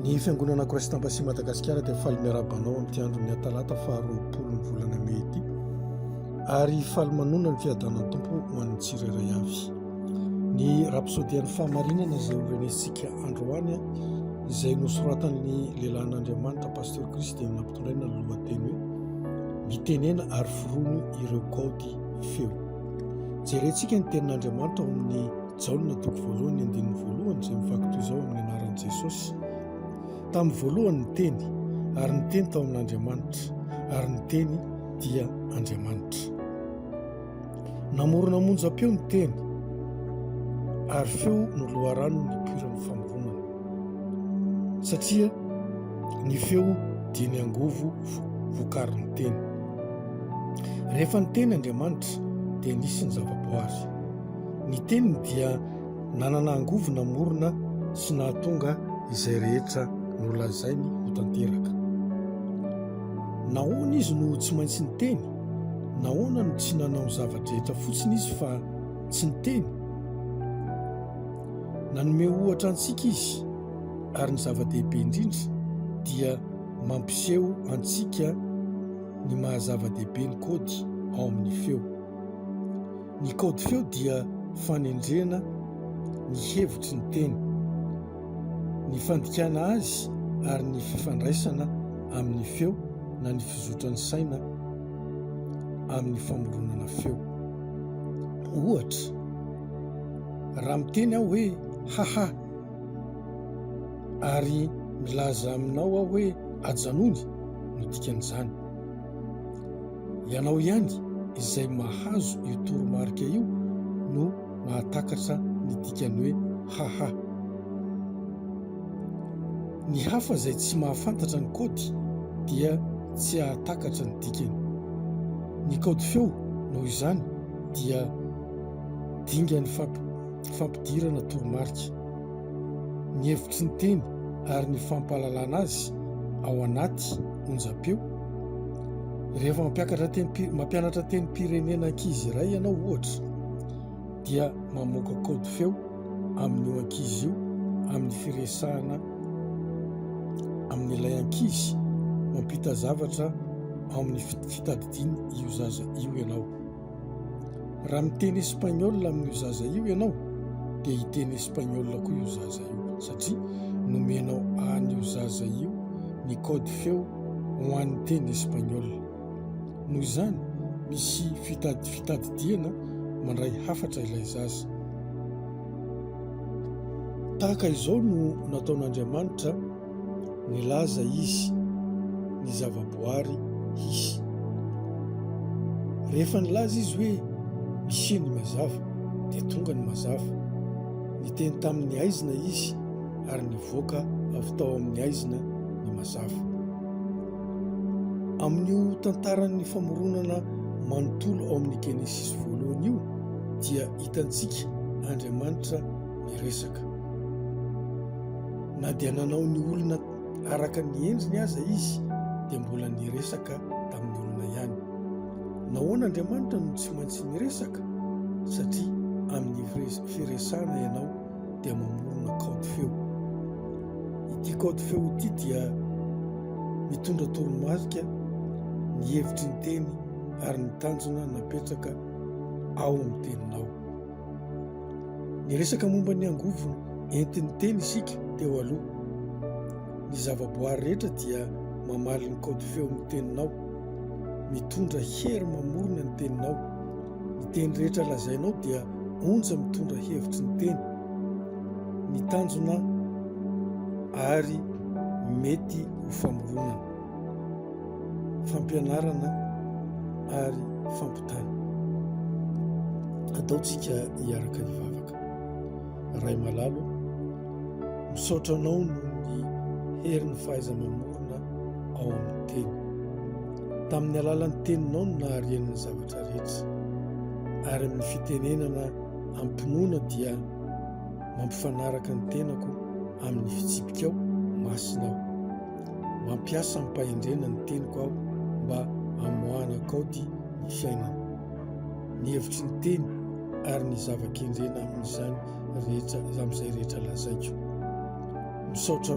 Ny Fiangonana Christ Embassy Madagasikara dia faly miarahaba anao amin'ity andron'ny Atalata faharoapolo ny volana Mey ity ary faly manonona ny fiadanan'ny Tompo ho an'ny tsirairay avy. Ny rapsodian'ny fahamarinana izay horenesintsika androany izay nosoratan'ny lehilahin'Andriamanitra Pasteur Christ dia nampitondraina ny lohateny hoe mitenena ary forono ireo kaody feo. Jerentsika ny tenin'Andriamanitra ao amin'ny Jaona toko voalohany andininy voalohany izay mivaky toy izao amin'ny anaran'i Jesosy. Tamin'ny voalohany ny teny, ary ny teny tao amin'Andriamanitra, ary ny teny dia Andriamanitra. Namorona monjam-peo ny teny, ary feo no loharano nipoiran'ny famoronana. Satria ny feo dia ny angovo vokarin'ny teny. Rehefa ny teny Andriamanitra dia nisy ny zavaboary. Ny teniny dia nanana angovo namorona sy nahatonga izay rehetra nolazainy ho tanteraka. Nahoana izy no tsy maintsy niteny? Nahoana no tsy nanao ny zava-drehetra fotsiny izy fa tsy niteny? Nanome ohatra antsika izy, ary ny zava-dehibe indrindra dia mampiseho antsika ny maha-zava-dehibe ny kody ao amin'ny feo. Ny kaody feo dia fanendrena ny hevitry ny teny, ny fandikana azy ary ny fifandraisana amin'ny feo na ny fizotran'ny saina amin'ny famoronana feo. Ohatra, raha miteny aho hoe haha ary milaza aminao aho hoe ajanony no dikan'izany. Ianao ihany izay mahazo io toromarika io no mahatakatra ny dikany hoe haha. Ny hafa izay tsy mahafantatra ny kaody dia tsy hahatakatra ny dikany. Ny kaody feo, noho izany, dia dingan'ny fampidirana toromarika. Ny hevitry ny teny ary ny fampahalalana azy ao anaty onjam-peo rehefa mampiakatra teny mampianatra teny pirenena ankizy iray ianao ohatra dia mamoaka kaody feo amin'ny eo ankizy io amin'ny firesahana amin'ilay ankizy mampita zavatra amin'ny fitadidiana io zaza io ianao Raha miteny espagnol amin'io zaza io ianao dia hiteny espagnol koa io zaza io satria nomenao an'io zaza io ny code feo ho an'ny teny espagnol. Noho izany, misy fitady fitadidiana mandray hafatra ilay zaza. Tahaka izao no nataon'Andriamanitra Nilaza izy ny zavaboary hisy. Rehefa nilaza izy hoe misie ny mazava dia tonga ny mazava. Niteny tamin'ny aizina izy ary nivoaka avy tao amin'ny aizina ny mazava. Amin'io tantaran'ny famoronana manontolo ao amin'ny Genesisy voalohany io dia hitantsika Andriamanitra miresaka. Na dia nanao ny olona araka ny endriny aza izy, dia mbola niresaka tamin'ny olona ihany. Nahoana Andriamanitra no tsy maintsy miresaka? Satria amin'ny firesahana ianao dia mamorona kaody feo. Ity kaody feo ity dia mitondra toromarika ny hevitry ny teny ary ny tanjona napetraka ao amin'ny teninao. Niresaka momba ny angovo entin'ny teny isika teo aloha. Ny zavaboary rehetra dia mamaly ny kaody feon'ny teninao. Mitondra hery mamorona ny teninao. Ny teny rehetra lazainao dia onja mitondra hevitry ny teny. Ny tanjona ary mety ho famoronana. fampianarana ary fampitana. Ataontsika hiaraka hivavaka. Ray malalo, misaotra anao noho ny herin'ny fahaiza-mamorona ao amin'ny teny. Tamin'ny alalan'ny teninao no naharian'ny zavatra rehetra ary amin'ny fitenenana ampinoana dia mampifanaraka ny tenako amin'ny fitsipikao masina aho. Mampiasa amim-pahendrena ny teniko aho mba hamoahana kaoty ny fiainana. Ny hevitry ny teny ary ny zava-kendrena amin'izany rehetra amin'izay rehetra lazaiko. Misaotra anao.